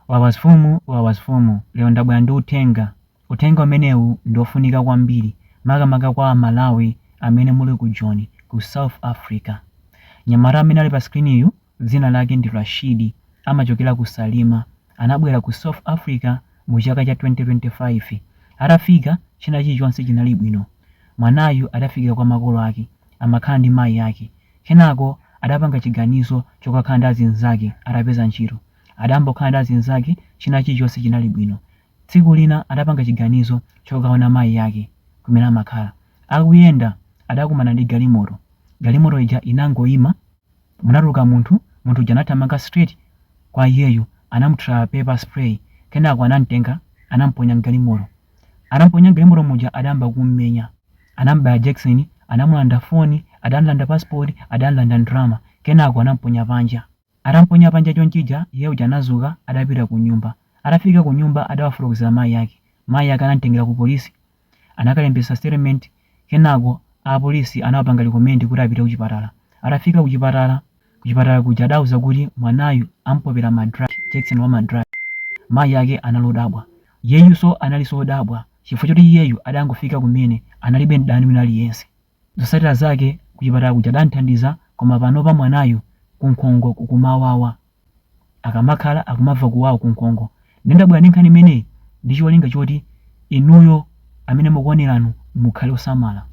Wawasfumu Wawasfumu lero ndabwera ndi uthenga, uthenga umenewu ndi ofunika kwambiri makamaka kwa a Malawi amene muli ku Joni ku South Africa. Mnyamata amene ali pa screen yu dzina lake ndi Rashidi amachokera ku Salima anabwera ku South Africa mu chaka cha 2025 atafika china chilichonse chinali bwino mwanayu adafika kwa makolo ake amakhala ndi mayi ake kenako adapanga chiganizo chokakhala ndi azinzake atapeza ntchito Adayamba kukhala ndi azinzake china chilichonse chinali bwino. Tsiku lina adapanga chiganizo chokaona mayi ake kumene amakhala. Akuyenda adakumana ndi galimoto. Galimoto ija inangoima. Munatuluka munthu. Munthu uja anathamanga straight kwa iyeyu. Anamuthira pepper spray. Kenako anamtenga anamuponya m'galimoto. Atamuponya m'galimoto muja adayamba kummenya. Anamubaya jekeseni, anamulanda phone, adamlanda passport, adamlanda ndalama. Kenako anamuponya panja. Atamponya panja chonchija, iye uja anadzuka adapita kunyumba. Atafika kunyumba adawafotokozera mayi ake. Mayi ake anamtengera ku polisi. Anakalembetsa statement kenako a polisi anawapanga recommend kuti apite kuchipatala. Atafika kuchipatala, kuchipatala kuja adawauza kuti mwanayu am'popera ma drug, jekeseni wa ma drug. Mayi ake anali odabwa. Iyeyuso analinso odabwa chifukwa choti iyeyu adangofika kumene analibe mdani wina aliyense. Zosatira zake kuchipatala kuja adamthandiza koma panopa mwanayu kunkhongo kukumamuwawa. Akamakhala akumava kuwawa kunkhongo. Nde ndabwera ndi nkhani imeneyi ndi cholinga choti inuyo amene mukuoneranu mukhale osamala.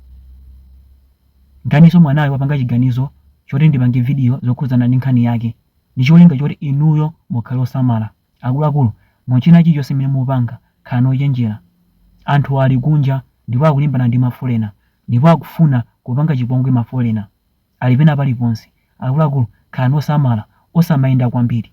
Nkhaninso mwanayu wapanga chiganizo choti ndipange video zokhudzana ndi nkhani yake ndi cholinga choti inuyo mukhale osamala. Akuluakulu, mu china chilichonse chimene mupanga, khalani ochenjera. Anthuwa ali kunja ndipo akulimbana ndi mafolena ndipo akufuna kupanga chipongwe mafolena. Ali pena paliponse. Akuluakulu, khalani osamala. Osamayenda kwambiri.